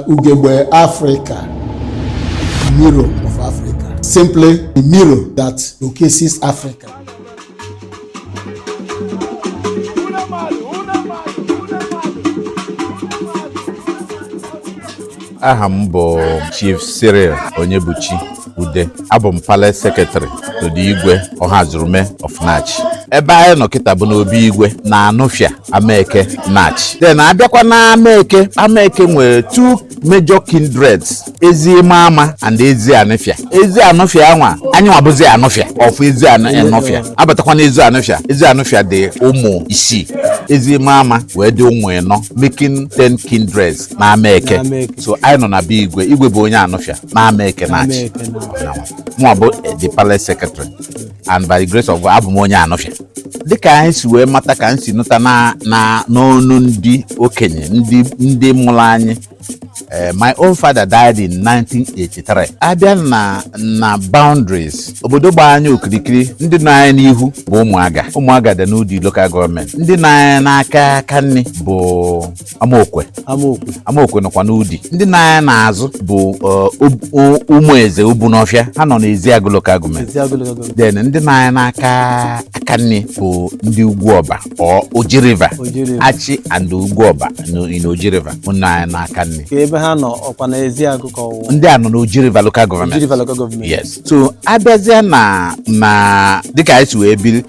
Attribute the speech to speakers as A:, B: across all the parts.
A: ugegbe Africa, mirror of Africa, simply a mirror that showcases Africa.
B: aha m bụ Chief Cyril Onyebuchi ude abụ m palace secretary to the igwe ọhazurume of Nachi ebe anyị nọ kịta bụ n'obi igwe na anụfịa amaeke Nachi then abịakwa na amaeke amaeke nwere two major kindreds ezi ịma ama and ezi anụfịa ezi anụfịa anwa anyị nwa bụzi anụfịa of ezi anụfịa abatakwa na ezi anụfịa ezi anụfịa dị ụmụ isii ezi ịma ama wee dị ụmụ ịnọ making ten kindreds na amaeke so anyị nọ na be igwe igwe bụ onye anụfịa na Amaeke Nachi mụ bụ the palace secretary and by the grace of God abụ m onye anụfịa dịka anyị si wee mata ka m si nụta na na n'ọnụ ndị okenye ndị ndị mụrụ anyị Eh, my own father died in 1983 abịa na na boundaries obodo gbaa anyị okirikiri ndị nọ anyị n'ihu bụ ụmụaga ụmụaga dị n'Udi local government ndị nọ anyị n'aka aka nri bụ amaokwe amaokwe amaokwe nọkwa n'Udi ndị nọ anyị n'azụ bụ ụmụ eze Ubunọfịa ha nọ n'Ezeagụ local government Ezeagụ local government then ndị nọ anyị n'aka aka nri bụ ndị Ugwuọba Oji River Oji River. achị and Ugwuọba in Oji River nọ anyị n'aka nri ka ebe ha nọ ọkwa na Ezeagụ ka ọwụwa ndị a nọ n'Oji River local government Oji River local government yes so abịazịa na na dịka anyị si wee biri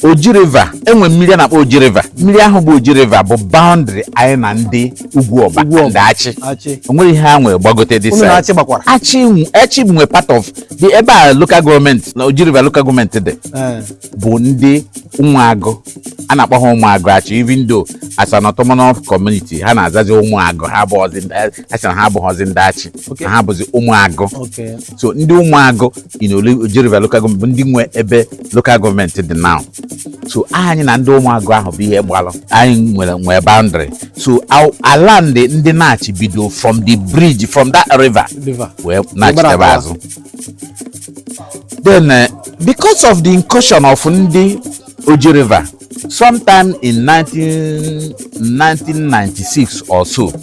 B: Oji River enwe mmiri a na-akpọ Oji River mmiri ahụ bụ Oji River bụ boundary anyị na ndị Ugwuọba Ugwuọba. and achị achị onwere ihe ha nwere gbagote this side unu na achị gbakwara achị nwe- achị nwe part of the ebe a local government na Oji River local government dị Ee. bụ ndị ụmụagụ a na-akpọ ha ụmụagụ achị even though as an autonomous community ha na-azazi ụmụagụ ha abụghọzi ndị- ha sị na ha abụghọzi ndị achị Okay. na ha bụzi ụmụagụ Okay. so ndị ụmụagụ in Oji River local government bụ ndị nwe ebe local government dị now so anyị na ndị ụmụagụ ahụ bụ ihe gbalụ anyị nwere nwee boundary so ala ndị ndị Nachi bido from the bridge from that river wee nachitebe azụ then eh, because of the incursion of ndị Oji River sometime in 19, 1996 or so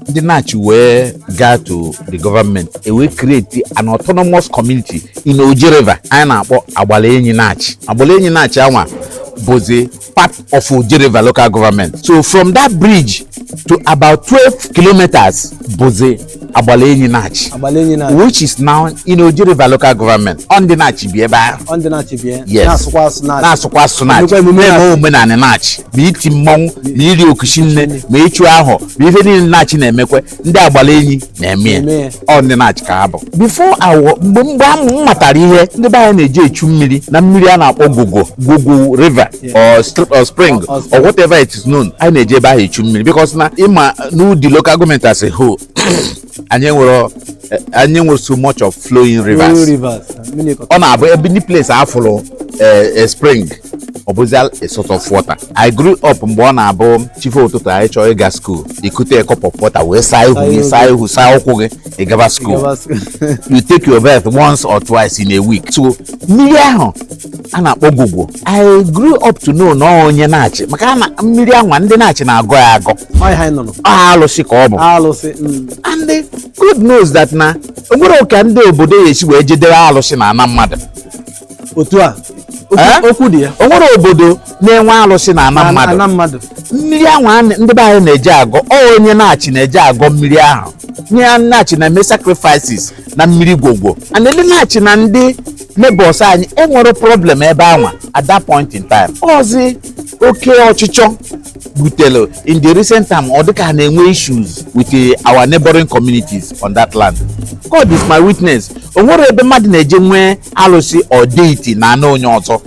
B: ndị Nachi wee gaa to the government e wee create an autonomous community in Oji River anyị na-akpọ Agbalaenyi Nachi Agbalaenyi Nachi anwa bụzi part of Oji River local government so from that bridge to about 12 kilometers bụzi Agbalaenyi Nachi Agbalaenyi Nachi which is now in Oji River local government ọ ndị Nachi bi ebe ahụ ọ ndị Nachi bi ya Yes. na-asụkwa asụ Nachi na-asụkwa asụ Nachi Emekwa emume na-eme Nachi. omenanị Nachi ma iti mmọnwụ ma iri okuchi nne ma ịchụ ahụ ma ife niile Nachi na-emekwe ndị Agbalaenyi na-eme ya Na-eme ya. ọ ndị Nachi ka ha bụ before awọ mgbe mgbe a m matara ihe ndị be anyị na-eje echu mmiri na mmiri a na-akpọ Gogo Gogo river or uh, spring or whatever it is known anyị na-eje ebe ahụ echu mmiri because na ịma n'Udi local government as a whole anyị enwerọ eh, anyị enwerọ so much of flowing rivers ọ na-abụ ebe any place a fụrụ eh, eh, spring ọ bụzi a source of water i grew up mgbe ọ na-abụ chife ụtụtụ anyị chọọ ịga school i kute cup of water wee saa ihu gị saa ihu saa ụkwụ gị ị gaba school you take your bath once or twice in a week so mmiri ahụ a na-akpọ Gogo I grew up to know na onye Nachi maka na mmiri anwa ndị Nachi na-agọ ya agọ Ọ ihe anyị nụrụ. ọ alụsị ka ọ bụ Alụsị. mm. and eh, God knows that na o nwerọ ka ndị obodo ya esi wee je debe alụsị na ana mmadụ Otu
C: a. Okwu- Eh? Okwu dị ya. o nwerọ
B: obodo na-enwe alụsị na ana mmadụ Ana mmadụ. mmiri ahụ a na- ndị be anyị na-eje agọ ọ onye Nachi na-eje agọ mmiri ahụ onye Nachi na-eme sacrifices na mmiri Gogo and ndị Nachi na ndị neighbors anyị enwerọ problem ebe anwa at that point in time ọzi oke ọchịchọ butere in the recent time ọ dịka na-enwe issues with eh, our neighboring communities on that land God is my witness o nwerọ ebe mmadụ na-eje nwee alụsị or deity na ana onye ọzọ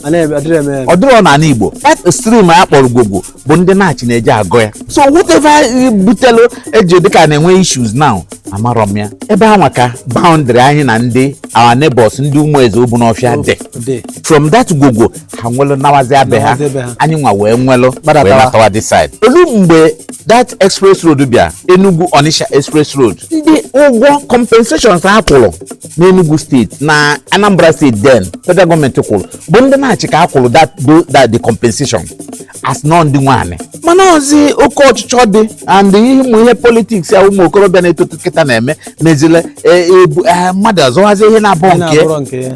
B: ọ dịrọ n'ana Igbo that stream a kpọrọ Gogo bụ ndị Nachi na-eje agọ ya so whatever butelu e ji dịka na-enwe issues now amarọ m ya ebe anwa ka boundary anyị na ndị our neighbors ndị Umueze Obinofia dị dị from that Gogo ha nwelụ nawazi be ha Nawazie be ha. anyị nwa wee nwelụ wee Gbadatawa. natawa this side o lu mgbe that express road bịa Enugu Onitsha express road ndị ụgwọ compensations ha kwụrụ n'Enugu state na Anambra state then federal government kwụrụ bụ ndị Nachi ka a kwụrụ that do- that the compensation as n'ọ ndị nwe anị mana ọzi oke ọchịchọ dị and ihe ụmụ ihe politics ya ụmụ okorobịa na-eto kịta na-eme mezile eh, ebu- eh, mmadụ azọwazi ihe na-abụ Ị nke na-abụrọ nke ya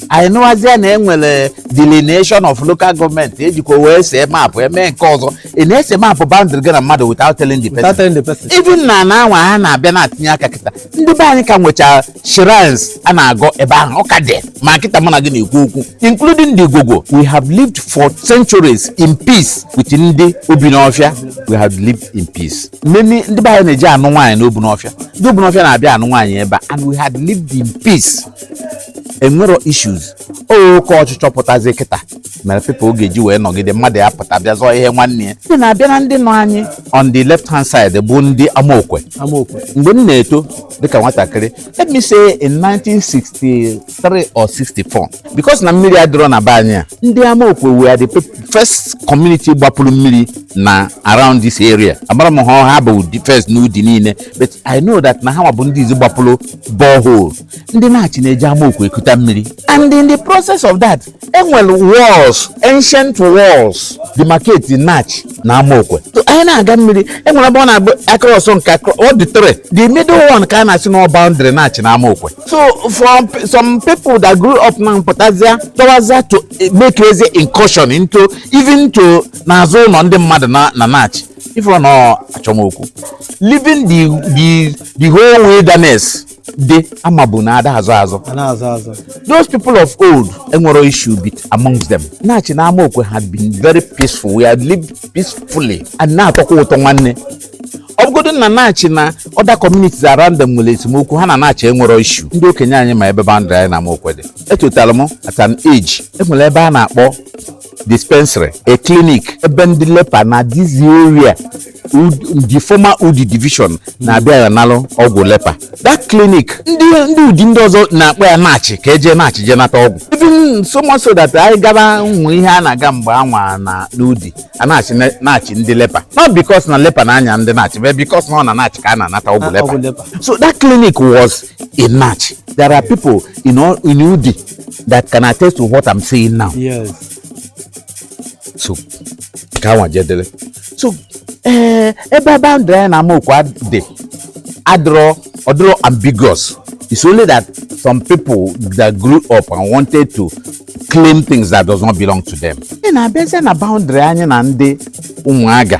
B: anyị nụwazie na enwere delineation of local government ejikwa wee see map eme nke ọzọ ị na-ese map boundary gị na mmadụ without telling the person without telling the person even na ana anwa ha na-abịa na-atinye aka kịta ndị be anyị ka nwechara shrines a na-agọ ebe ahụ ọ ka dị ma kịta mụ na gị na-ekwu okwu including the Gogo we have lived for centuries in peace with ndị Obinofia we have lived in peace many ndị be anyị na-eje anụ nwaanyị n'Obinofia ndị Obinofia na-abịa anụ nwaanyị ebe a and we had lived in peace enwerọ issues oke ọchịchọ pụtazi kịta mere people oge ji wee nọgide mmadụ ya pụta bịa zọọ ihe nwanne ya ndị na-abịa na ndị nọ anyị on the left hand side bụ ndị amaokwe amaokwe mgbe m na-eto dịka nwatakịrị let me say in 1963 or 64 because na mmiri adịrọ na be anyị a ndị amaokwe were the pe- first community gbapụrụ mmiri na around this area amarọ m ma ha bụ ndị first n'udi niile but i know that na ha bụ ndị izi gbapụrụ borehole ndị nachi na-eje amaokwe ekuta mmiri and in the process of that enwere walls ancient walls demarcate nachi na amaokwe anyị na-aga mmiri enwere ebe ọ na-abụ across nke all the three the middle one ka a na-asị na boundary nachi na amaokwe so for some people that grew up na mpụtazia tọwazia to makezi incursion into even to n'azụ ụlọ ndị mmadụ na nachi ifụrụ na achọmokwu leaving the the the whole wilderness dị ama bụ na ada azọ azọ a na-azọ azọ those people of old enwerọ issue bit amongst them nachi na amaokwe had been very peaceful we had lived peacefully and na-atọkwa ụtọ nwanne ọ bụgodo na nachi na other communities around them nwere esemokwu ha na nachi enwerọ issue ndị okenye anyị ma ebe boundary anyị na amaokwe dị etotala m at an age enwere ebe a na-akpọ dispensary a clinic ebe ndị lepa na this area the former udi division na-abịa ya nalụ ọgwụ lepa that clinic ndị ndị udi ndị ọzọ na-akpọ ya nachi ka e je nachi je nata ọgwụ even so much so that anyị gaba nwe ihe a na-aga mgbe anwa na n'udi a na-asị ne- nachi ndị lepa not because na lepa na-aya ndị nachi but because na ọ na nachi ka a na-anata ọgwụ Ah, lepa ọgwụ lepa. so that clinic was in Nachi. There are people in all in Udi that can attest to what I'm saying now. Yes. So, ka nwa jedele. So, eh, ebe boundary anyị na Amaokwe dị adịrọ ọdịrọ ambiguous. It's only that some people that grew up and wanted to claim things that does not belong to them. Ị na-abịazie na boundary anyị na ndị ụmụaga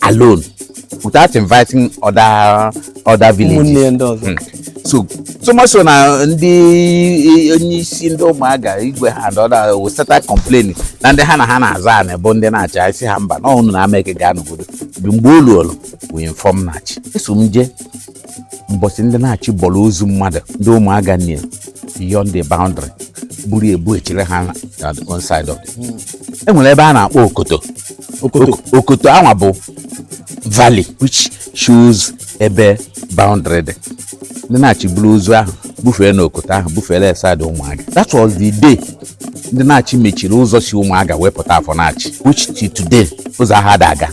B: alone without inviting other other villages hmm. so so much so na ndị onye isi ndị ụmụaga igwe ha and others started complaining na ndị ha na ha na-azọ anị bụ ndị nachi asị ha mba na ọnụ na ameke ga-anọgodo mgbe olu olu we inform nachi eso m jee mbọsị ndị nachi bọrọ ozu mmadụ ndị ụmụaga nne beyond the boundary buru ebu echere ha na the one side of the e nwere ebe a na-akpọ okoto Okoto. Ok- okoto anwa bụ valley which shows ebe boundary dị ndị nachi buru ozu ahụ bufee na okoto ahụ bufere ya side ụmụaga that was the day ndị nachi mechiri ụzọ si ụmụaga wee pụta afọ nachi which till today ụzọ ahụ ada aga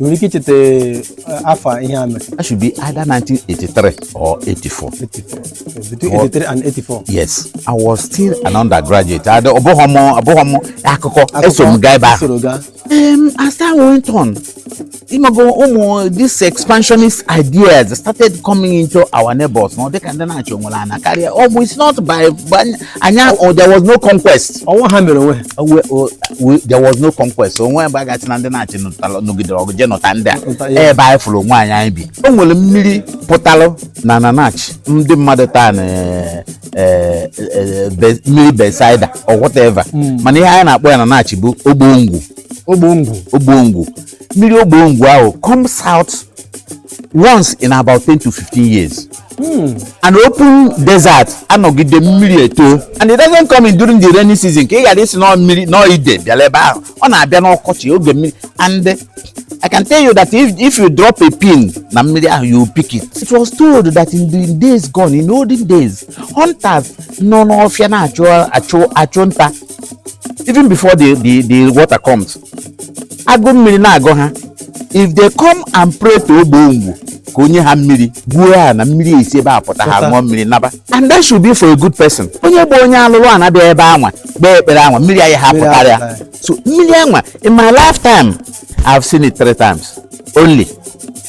B: nwere ike
C: icheta eh, afọ ihe a mere that should be either
B: 1983 or 84 84 between
C: 83 and 84 yes i was
B: still an undergraduate I don't- ọ bụghị m ọ bụghị m akụkọ eso m gaa ebe ahụ soro gaa um, as time went on ịmago ụmụ this expansionist ideas started coming into our neighbors na ọ dịka ndị Nachi nwere ana karịa ọ bụ it's not by by- anya oh, there was no conquest ọnwa ha mere onwe oh, oh, there was no conquest o nwe ebe a ga-asị na ndị Nachi nọgidere ọgụ jee nọta ndị a ebe anyị fụrụ onwe anyị anyị bi o nwere mmiri pụtalụ na na Nachi ndị mmadụ taa na eh, eh, eh, mmiri Bethsaida or whatever hmm. mana ihe anyị na-akpọ ya na Nachi bụ ogbongwu ogbongwu ogbongwu mmiri ogbongwu ahụ comes out once in about 10 to 15 years Hmm. an open desert anọgide mmiri eto and it doesn't come in during the rainy season ka ị ghara ịsị na ọ mmiri na ọ ide bịara ebe ahụ ọ na-abịa n'ọkọchị oge mmiri and I can tell you that if, if you drop a pin na mmiri ahụ you pick it. It was told that in the days gone in olden days hunters nọ n'ọfịa na-achụ achụ achụ nta even before the, the, the water comes agụụ mmiri na-agụ ha if they come and pray to ogbongwu ka o nye ha mmiri gwuo ana mmiri esi ebe a pụta ha ṅụọ mmiri naba and that should be for a good person onye bụ onye alụrụ ana bịa ebe anwa kpee ekpere anwa mmiri anaghị apụtara ya so mmiri anwa in my lifetime I've seen it three times only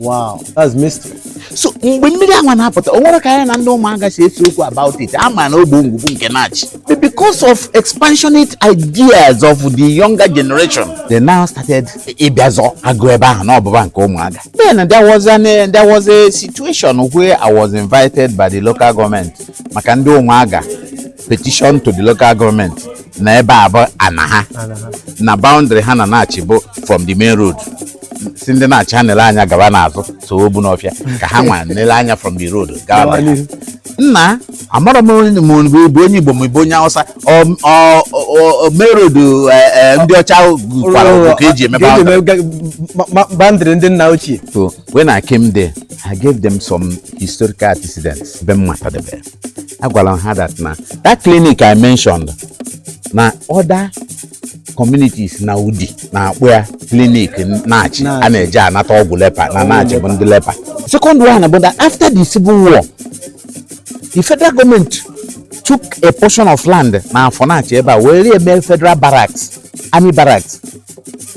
B: wow
C: that's mystery so mgbe
B: mmiri anwa na-apụta o nwere ka anyị na ndị Ụmụaga si esi okwu about it a ma na ogbongwu bụ nke Nachi But because of expansionist ideas of the younger generation they now started ịbịa zọ agụ ebe ahụ na ọ bụba nke Ụmụaga then there was an eh, there was a situation where I was invited by the local government maka ndị Ụmụaga petition to the local government na ebe a bụ ana ha na boundary ha na Nachi bụ from the main road sị ndị Nachi ha nele anya gaba n'azụ so Obinọfịa ka ha nwa nele anya from the road gaba Gawa na n'ihu. nna amarọ m onye ma ọ bụ onye Igbo ma ị bụ onye Hausa ọ- ọ- ọ- ọ- main road eh, eh, ndị ọcha gwara ọgwụ ka eji emebe Ka eji ahụ. eme- ma-
C: ma- boundary ndị nna ochie So when I
B: came there, I gave them some historical antecedents. Be Matadebe. I gwara ha that na that clinic I mentioned na other communities na Udi na-akpọ ya clinic Nachi a na-eje anata ọgwụ leper na Nachi bụ ndị leper second one bụ that after the civil war the federal government took a portion of land na Afọ Nachi ebe a were mee federal barracks army barracks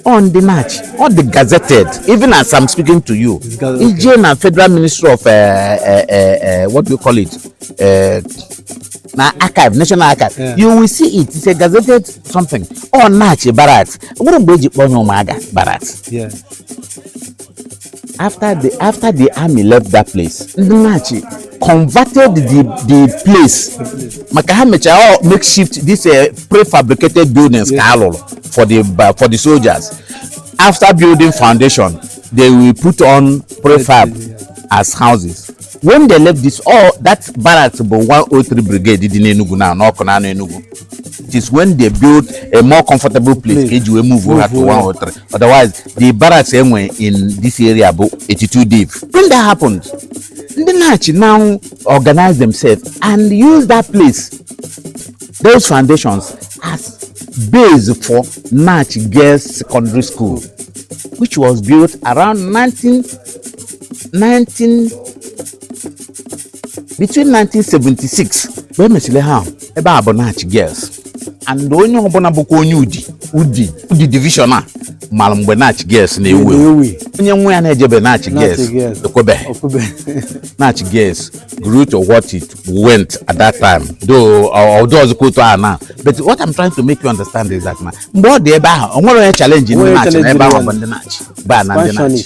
B: ọ ndị Nachi ọ dị gazetted even as i'm speaking to you i je na federal ministry of uh, uh, uh, uh, what do you call it uh, na archive national archive Yeah. you will see it it's a gazetted something ọ Nachi barracks nwere mgbe eji kpọọ ya Ụmụaga
C: barracks Yeah. after
B: the after the army left that place ndị Nachi converted the the place maka ha mechara ọ makeshift this uh, prefabricated buildings ka a lụrụ for the ba- for the soldiers after building foundation they will put on prefab as houses when they left this ọ that barracks bụ 103 brigade dị n'Enugu now n'Awkunanaw Enugu it is when they build a more comfortable place ka eji wee move ha to 103 otherwise the barracks e nwe in this area bụ 82 div when that happened ndị Nachi now organize themselves and use that place those foundations as base for Nachi Girls Secondary School which was built around 19 19 between 1976 mgbe emesịrị ha ebe a bụ Nachi Girls and onye ọbụla bụkwa onye Udi Udi Udi division a mara mgbe Nachi Girls na-ewu ewu onye nwa ya na-ejebe Nachi Girls ekwebeghị Nachi Girls grew to what it went at that time though ọdụ ọzọkwa otu ahụ now but what I'm trying to make you understand is that na mgbe ọ dị ebe ahụ o nwere onye challenge ndị Nachi na ebe ahụ bụ ndị Nachi ba na ndị Nachi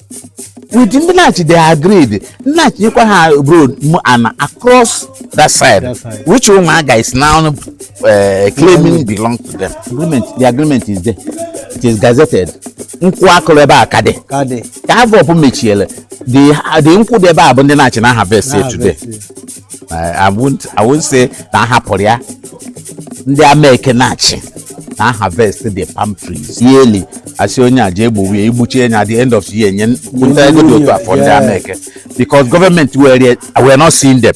B: with ndị Nachi they agreed Nachi nyekwa ha road m ana across that side That side. which Ụmụaga is now uh, claiming belong to them agreement the agreement is there it is gazetted nkwụ a kụrụ ebe a ka dị ka dị ka AVOP mechiele the the nkwụ dị ebe a bụ ndị Nachi na-harvest ya today na-abịa I won't I won't say na a hapụrụ ya ndị Ameke Nachi na-harvest the palm trees yearly a sị onye a ji egbuwe ya i gbuchie ya at the end of the year nye nta ego dị otu a for ndị Ameke because government were were not seeing them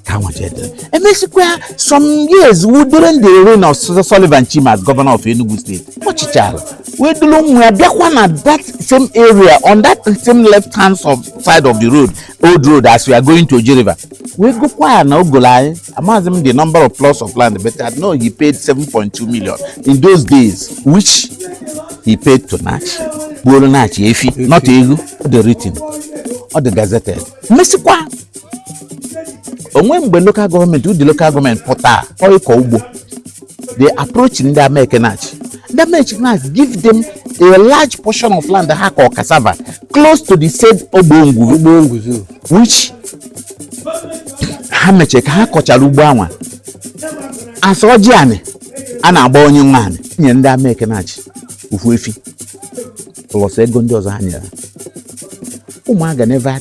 B: ka
C: nwa
B: jedere emesikwa some years wu during the reign of Sullivan Chime as governor of Enugu state ọ chịchara wee duru nwa ya bịakwa na that same area on that same left hand side of the road old road as we are going to Oji River wee gokwa ana o golo anị amaghịzi m the number of plots of land but I know he paid 7.2 million in those days which he paid to Nachi gbuoro Nachi efi not ego ọ dị written ọ dị gazetted mesikwa o nwe mgbe local government Udi local government pụta ọ ịkọ ugbo they approach ndị Ameke Nachi ndị Ameke Nachi give them a large portion of land ha kọ cassava close to the said ogbongwu ogbongwu which ha mechie ka ha kọchara ugbo anwa a sa ọjị anị a na-agba onye nwe anị nye ndị Ameke Nachi ofu efi plus ego ndị ọzọ ha nyere Ụmụaga never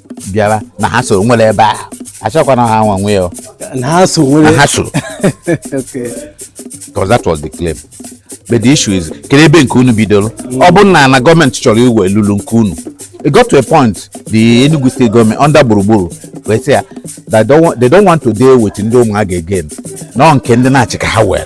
B: bịara na ha so nwere ebe a achọkwana ha nwa nwe ya na ha so nwere na
C: ha so okay because that
B: was the claim but the issue is kedu ebe nke unu bidoro ọ bụ na na gọọmenti chọrọ iwe lulu nke unu it got to a point the Enugu state government under Gburugburu wee sị na they don't want, they don't want to deal with ndị Umuaga again na ọ nke ndị Nachi ka ha were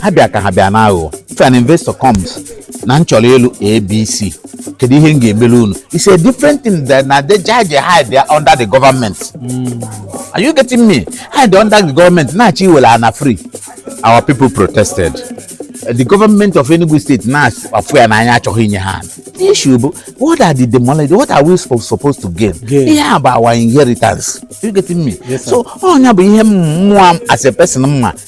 B: ha bịa ka ha bịa n'aghụghọ if an investor comes na m chọrọ ịlụ ABC kedu ihe m ga-emere unu it's a different thing than na they judge hide ya under the government are you getting me hide under the government na-achọ iwere ana free our people protested the government of Enugu State na-afụ ya n'anya achọghị inye ha the issue bụ what are the demolition what are we supposed, supposed to gain Gain. ihe a bụ our inheritance you getting me Yes, sir. so ọ ya bụ
C: ihe
B: mụ nwa as a person ma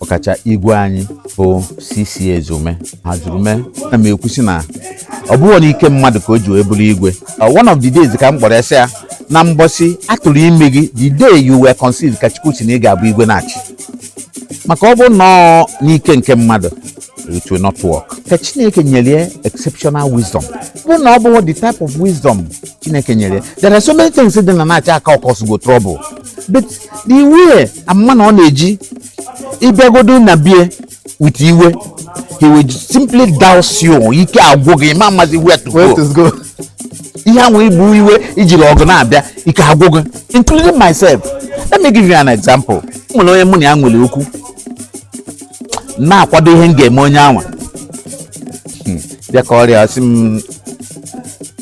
B: ọkacha igwe anyị bụ CC Ezeume Ohazurume na m ekwusi na ọ bụghị na ike mmadụ ka o ji wee bụrụ igwe uh, one of the days ka m kpọrọ ya sị ya na mbọsị a tụrụ ime gị the day you were conceived ka Chukwu sị na ị ga-abụ igwe Nachi maka ọ bụ na ọ n'ike nke mmadụ it will not work ka Chineke nyere exceptional wisdom ọ bụ na ọ bụghị the type of wisdom Chineke nyere there are so many things dị na Nachi aka cause go trouble but the way ama na ọ na-eji ị bịagodu na be ya with iwe he will simply douse you ike agwụ gị ị ma amazi where to go ihe ahụ i bu iwe i jiri ọgụ na-abịa ike agwụ gị including myself let me give you an example m nwere onye mụ na ya nwere okwu na-akwado ihe m ga-eme onye anwa Hmm, bịa kọọrọ ya ọ sị m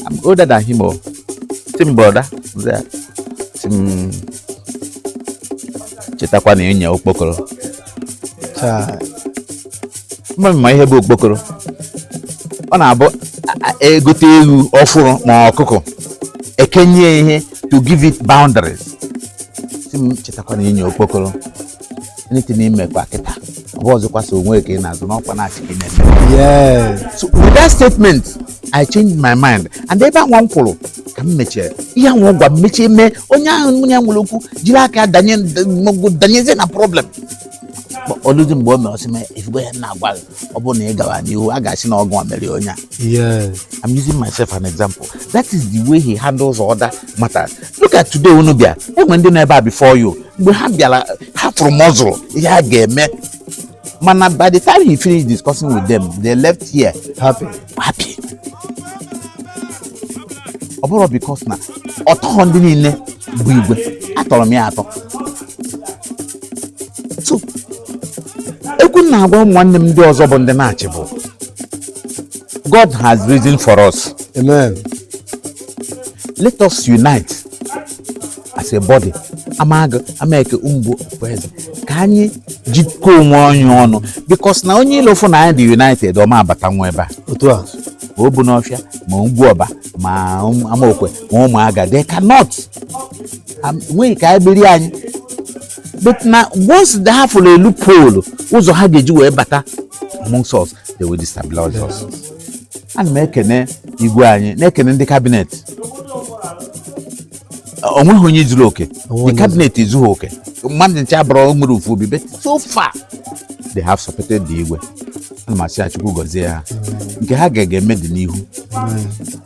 B: I'm older than him ọ sị m brother sị m chetakwa na ị nya okpokoro ma ị ma ihe bụ okpokoro ọ na-abụ e gote ewu ọfụrụ ma ọkụkọ e kenye ihe to give it boundaries sị m chetakwa na ị nya okpokoro anything i mekwa kịta ọ bụzikwa sọ onwe ka ị na-azọ na ọ kwa Nachi ka ị na-eme
C: Yes. so with that
B: statement i changed my mind and ebe anwa m kwụrụ ka m mechie ihe anwa ọ gwa m mechie m onye ahụ mụ na ya nwere okwu jiri aka ya danyezie na problem o luzie mgbe o mere ọ sị m ị fụgo ihe a na-agwa gị ọ bụrụ na ị gara n'ihu a ga-asị na ọ gị nwa mere onye a Yes.
C: I'm using
B: myself an example. That is the way he handles other matters. Look at today unu bịa e nwe ndị nọ ebe a before you mgbe ha bịara ha fụrụ muscle ihe a ga-eme mana by the time he finished discussing with them they left here Happy. happy. ọ bụrọ because na ọ tọrọ ndị niile bụ igwe atọrọ m ya atọ so okwu m na-agwa ụmụ nwanne m ndị ọzọ bụ ndị Nachi bụ God has risen for us Amen. let us unite as a body Amagu Ameke Umubo Okpubeze ka anyị jikọọ onwe anyị ọnụ because na onye ilo fụ na anyị dị united ọ ma abatanwu ebe a Otu a. ma
C: Obinofia
B: ma Ugwuoba ma Amokwe ma Umuaga they cannot nweghị ka anyị biri anyị but na once they have a loophole ụzọ ha ga-eji wee bata amongst us they will destabilize us ana m ekene igwe anyị na-ekene ndị cabinet o nweghị onye zuru oke the cabinet ezughị oke mmadụ ncha abụrọ nwere ofu obi but so far they have supported the igwe ana m asị ya chukwu gọzie ha nke ha ga-eme dị n'ihu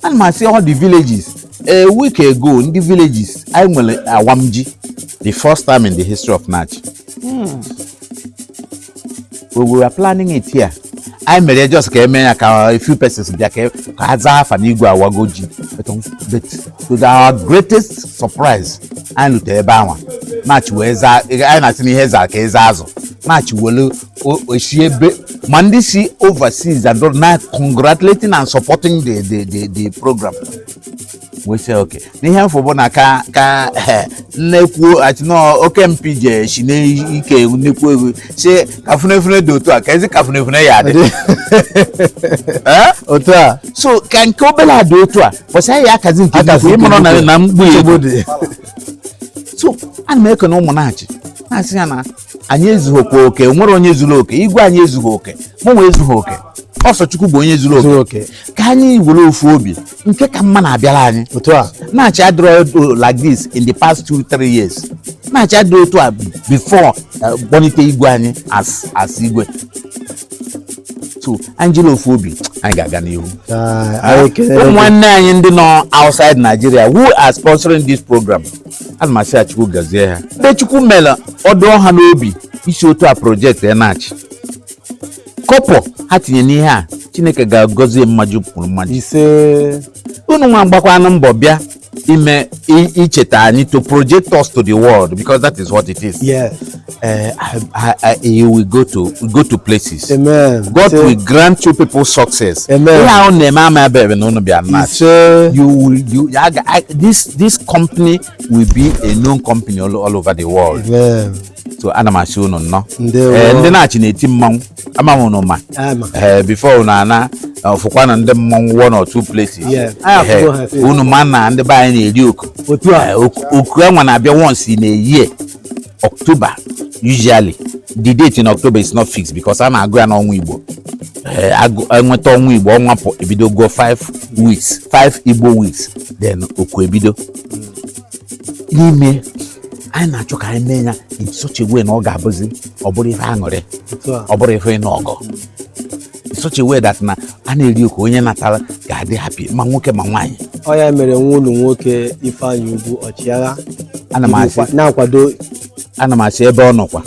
B: ana m asị all the villages a week ago ndị villages anyị nwere awamji the first time in the history of Nachi we were planning it here anyị mere ya just ka e mee ya ka a few persons bịa ka ka ha zaa afa n'igwe awago ji but um, but to the- our greatest surprise anyị lute ebe anwa Nachi wee zaa anyị na-asị na ihe zaa ka eze azụ Nachi welu si ebe ma ndị si overseas and now congratulating and supporting the the the, the program we say okay n'ihe m fụ bụ na ka ka eh, nnekwuo atinọ oke mpi je si n'ike nnekwu egwu si ka funefune dị otu a ka ezi ka funefune ya adị
C: Eh? otu a so ka nke
B: obere a dị otu a bọsị anyị akazi nke Akazi nnukwu ịmụrụ na nke na mgbu ya nsogbu dị so ana m ekene ụmụ Nachi na-asị ya na anyị ezughịkwa oke nwerọ onye zuru oke igwe anyị ezughị oke mụnwa ezughị oke ọ sọ chukwu bụ onye zuru oke ka anyị were ofu obi nke ka mma na-abịara anyị otu a Nachi
C: adịrọ
B: like this in the past two three years Nachi adịrọ otu a before uh, kpọlite igwe anyị as as igwe so anyị jiri ofu obi anyị ga-aga n'ihu ụmụ nwanne anyị ndị nọ outside Nigeria who are sponsoring this program ana m asị ya chukwu gọzie ha ndị chukwu mere ọ dụ ha n'obi isi otu a projectia Nachi kọbọ ha tinye n'ihe a chineke ga-agọzi mmaji kwuru mmaji
C: ise unu
B: nwa gbakwanụ mbọ bịa ime i- icheta anyị to project us to the world because that is what it is yes
C: uh, I, I,
B: you will go to go to places. Amen. God so,
C: will
B: grant you people success. Amen. So,
C: you will you I, I, this
B: this company will be a known company all, all over the world. Amen.
C: So ana m
B: asị unu nnọọ eh, ndị Nachi na-eti mmanwụ ama m unu ma eh, before unu ana ọfụkwa na ndị mmọnwụ one or two places unu ma na ndị be anyị na-eri oku oku anwa na-abịa once in a year October usually the date in October is not fixed because a na-agụ ya n'ọnwa Igbo eh, enweta eh, ọnwa Igbo ọnwa pụ ebido go 5 weeks 5 Igbo weeks then oku ebido n'ime anyị na-achọ ka anyị mee ya in such a way na ọ ga-abụzi ọ bụrụ ife aṅụrị ọ bụrụ ife ịnụ ọgụ such a way that na a na-eri oku onye natara ga-adị happy ma nwoke ma nwaanyị ọ ya mere nwa
C: ụlọ nwoke ifeanyị ugwu ọchịagha na-akwado
B: ana m asị ebe ọ nọkwa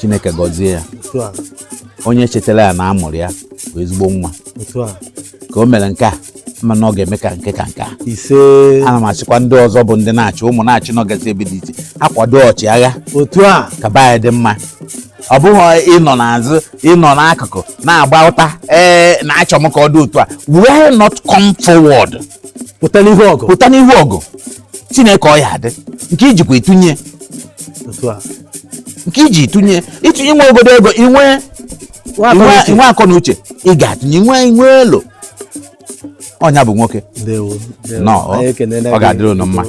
B: chineke gọzie ya onye chetara ya na a mụrụ ya bụ ezigbo nwa otu a ka o mere nke a mana ọ ga-eme ka nke ka nke a ise
C: ana m
B: asịkwa ndị ọzọ bụ ndị nachi ụmụ nachi nọgasị ebe dị iche akwado ọchịagha otu a ka
C: be anyị dị mma
B: ọ bụghị ịnọ n'azụ ịnọ n'akụkụ na-agba ụta ee na-achọ m ka ọ dị otu a why not come forward pụta
C: n'ihu ọgụ pụta n'ihu ọgụ chineke ọ ya
B: adị nke ijikwa itunye otu
C: a nke
B: iji itunye itunye nwe ogodo ego inwe nwe akọ na uche ị ga-atụnye nwe inwe elo onye a bụ nwoke na ọ ga-adịrị unu mma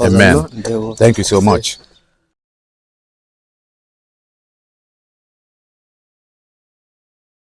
B: amen thank you so much